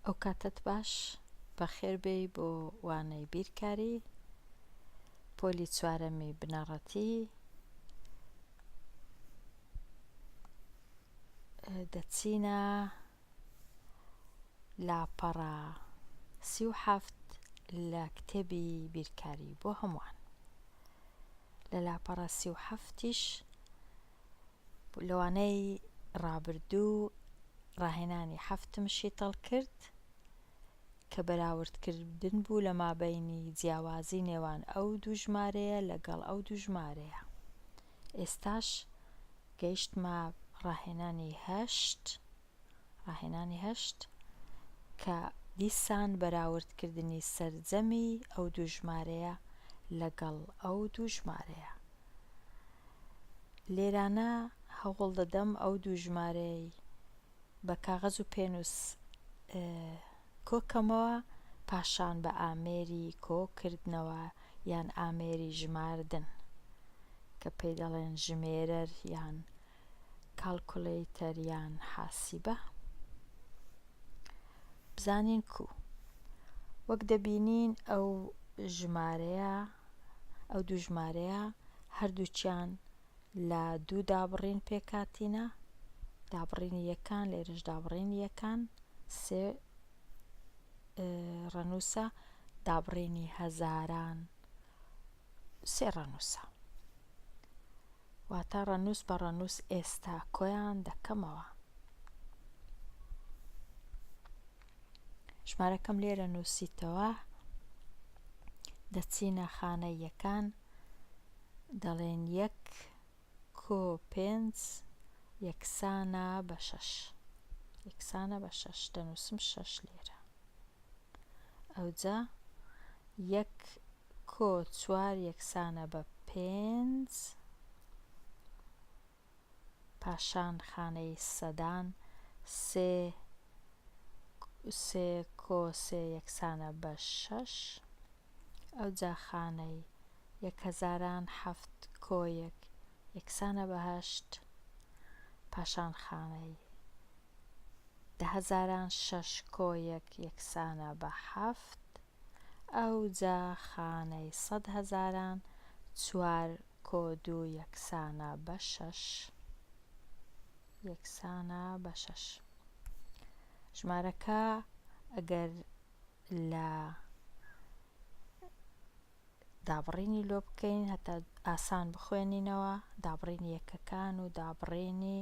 ئەو کاتەت باش بەخێر بێی بۆ وانەی بیرکاری پۆلی چوارەمی بنەڕەتی دەچینە لاپەڕە سی و حەفت لە کتێبی بیرکاری بۆ هەمووان لە لاپەڕە سی و حەفتیش لەوانەی ڕابردوو ڕاهێنانی حەفتم شیتەڵ کرد کە بەراوردکردن بوو لە مابەینی جیاوازی نێوان ئەو دوو ژمارەیە لەگەڵ ئەو دوو ژمارەیە ئێستاش گەیشتمە ڕاهێنانی هەشت ڕاهێنانی هەشت، کە دیسان بەراوردکردنی سەرجەمی ئەو دوو ژمارەیە لەگەڵ ئەو دوو ژمارەیە. لێرانە هەوڵ دەدەم ئەو دوو ژمارەیەی بە کاغەز و پێنووس کۆکەمەوە پاشان بە ئامێری کۆکردنەوە یان ئامێری ژماردن کە پێی دەڵێن ژمێرەر یان کاڵکولەیتەر یان حاسیبە بزانین کو وەک دەبینین ئەو ژمارەیە ئەو دوو ژمارەیە هەردووچیان لە دوو دابڕین پێکاتینە دابڕینی یەکان لێرش دابڕینی یەکان سێ ڕەنووسە دابڕینی هەزاران سێ ڕەنووسە. واتە ڕەنووس بە ڕەنووس ئێستا کۆیان دەکەمەوە. ژمارەکەم لێرە نووسیتەوە دەچینە خانەیەکان دەڵێن یەک کۆ پێنج یەکسانە بە شەش. یەکسانە بە شەش دەنووسم شەش لێرە. ئەوجا یەک کۆ چوار یەکسانە بە پێنج پاشان خانەی سەدان سێ سێ کۆ سێ یەکسانە بە شەش. ئەو جاخانەی یەک هەزاران حەفت کۆیەک یەکسانە بە هەشت پاشان خانەی دە هەزاران شەش کۆیەک یەکسانە بە حەفت ئەو جا خانەی سەد هەزاران چوار کۆ دوو یەکسانە بە شەش یەکسانە بە شەش ژمارەکە ئەگەر لە دابڕینی لۆ بکەین هەتا ئاسان بخوێنینەوە دابڕینی یەکەکان و دابڕینی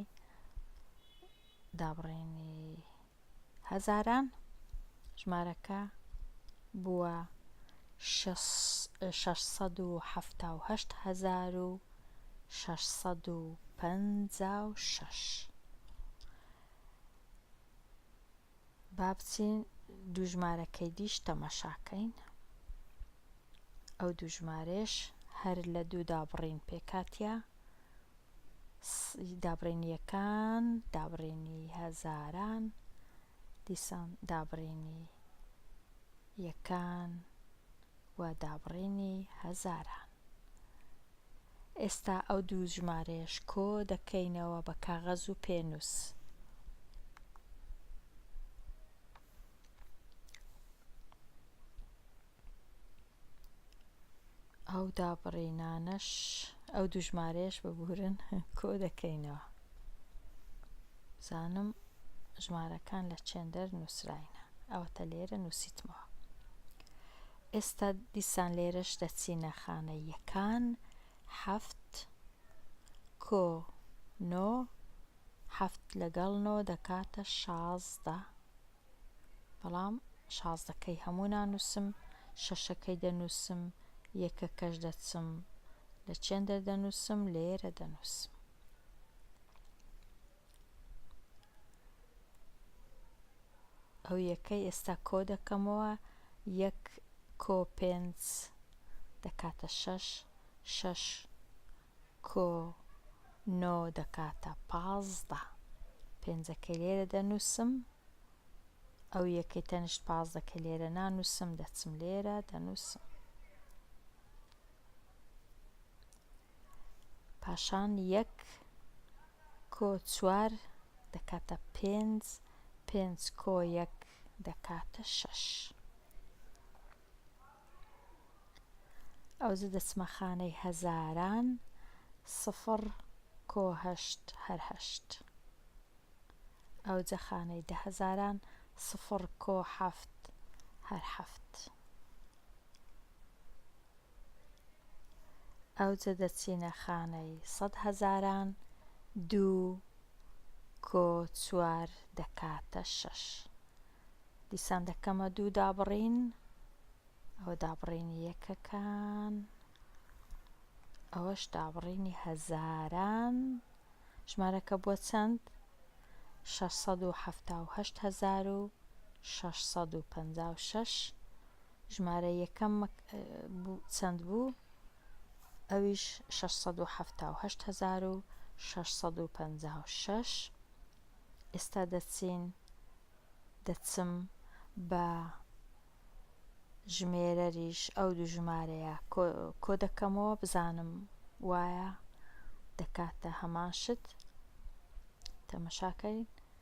دابڕینی هەزاران ژمارەکە بووە 678656 با بچین دوو ژمارەکەی دیش تەمەشاکەین ئەو دوو ژمارەش هەر لە دوو دابڕین پێکاتە دابڕینیەکان دابڕینی هەزاران دیسان دابڕینی یەکان و دابڕینی هەزاران. ئێستا ئەو دوو ژمارەیەش کۆ دەکەینەوە بە کاغەز و پێنووس. ئەو دابڕینانەش ئەو دوو ژمارەیەش ببورن کۆ دەکەینەوە. زانم ژمارەکان لە چێندەر نووسراینە ئەوەتە لێرە نووسیتمەوە. ئێستا دیسان لێرەش دەچینە خانە یەکان، حەفت، کۆ، نۆ، حەفت لەگەڵ نۆ دەکاتە شازدە، بەڵام شازدەکەی هەموو نانووسم، شەشەکەی دەنووسم، یەکەکەش دەچم لە چێندەر دەنووسم، لێرە دەنووسم. ئەو یەکەی ئێستا کۆ دەکەمەوە یەک کۆ پێنج دەکاتە شەش شەش کۆ نۆ دەکاتە پازدە پێنجەکەی لێرە دەنووسم ئەو یەکەی تەنیشت پازدەکە لێرە نانووسم دەچم لێرە دەنووسم پاشان یەک کۆ چوار دەکاتە پێنج، پێنج کۆ یەک دەکاتە شەش. ئەوجە دەچمە خانەی هەزاران، سفر کۆ هەشت هەر هەشت. ئەوجە خانەی دەهەزاران، سفر کۆ حەفت هەر حەفت. ئەوجە دەچینە خانەی سەد هەزاران دوو کۆ چوار دەکاتە شەش دیسان دەکەمە دوو دابڕین ئەوە دابڕینی یەکەکان ئەوەش دابڕینی هەزاران ژمارەکە بووە چەند 678 هزار و 656 ژمارە یەکەم چەند بوو ئەویش شەش سەد و حەفتا و هەشت هەزار و شەش سەد و پەنجا و شەش ئێستا دەچین دەچم بە ژمێرەریش ئەو دوو ژمارەیە کۆ دەکەمەوە بزانم وایە دەکاتە هەمان شت تەمەشاکەین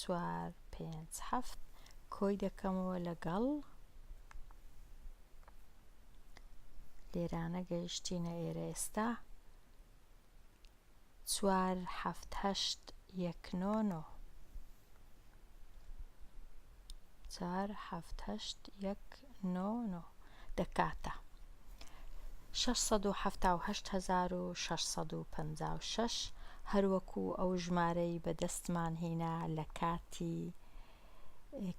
چوار پێنج حەفت کۆی دەکەمەوە لەگەڵ لێرانە گەیشتینە ئێرە ئێستا چوار حەفت هەشت یەک نۆ نۆ چوار حەفت هەشت یەک نۆ نۆ دەکاتە شەش سەد و حەفتا و هەشت هەزار و شەش سەد و پەنجا و شەش هەروەکو ئەو ژمارەی بەدەستمان هینا لە کاتی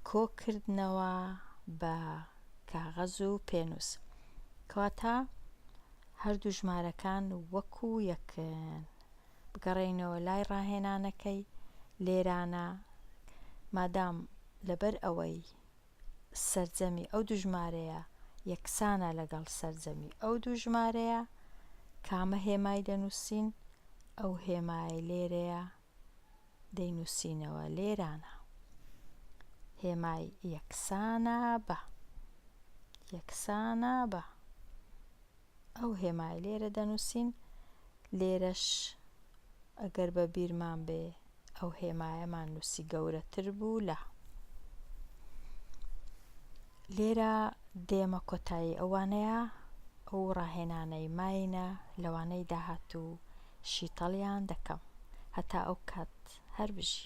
کۆ کردنەوە بە کاغەز و پێنووس کەواتە هەردوو ژمارەکان وەکو یەکن بگەڕێینەوە لای ڕاهێنانەکەی لێرانە مادام لەبەر ئەوەی سەرجەمی ئەو دوو ژمارەیە یەکسانە لەگەڵ سەرجەمی ئەو دوو ژمارەیە، کامە هێمای دەنووسین؟ ئەو هێمایەی لێرەیە دەینووسینەوە لێرانە. هێمای یەکسانە بە یەکسانە بە ئەو هێمای لێرە دەنووسین، لێرەش ئەگەر بە بیرمان بێ ئەو هێمایەمان نووسی گەورەتر بوو لە. لێرە دێمە کۆتایی ئەو وانەیە، ئەو ڕاهێنانەی ماینە لەوانەی داهاتوو شیتەڵیان دەکەم. هەتا ئەو کات هەر بژی.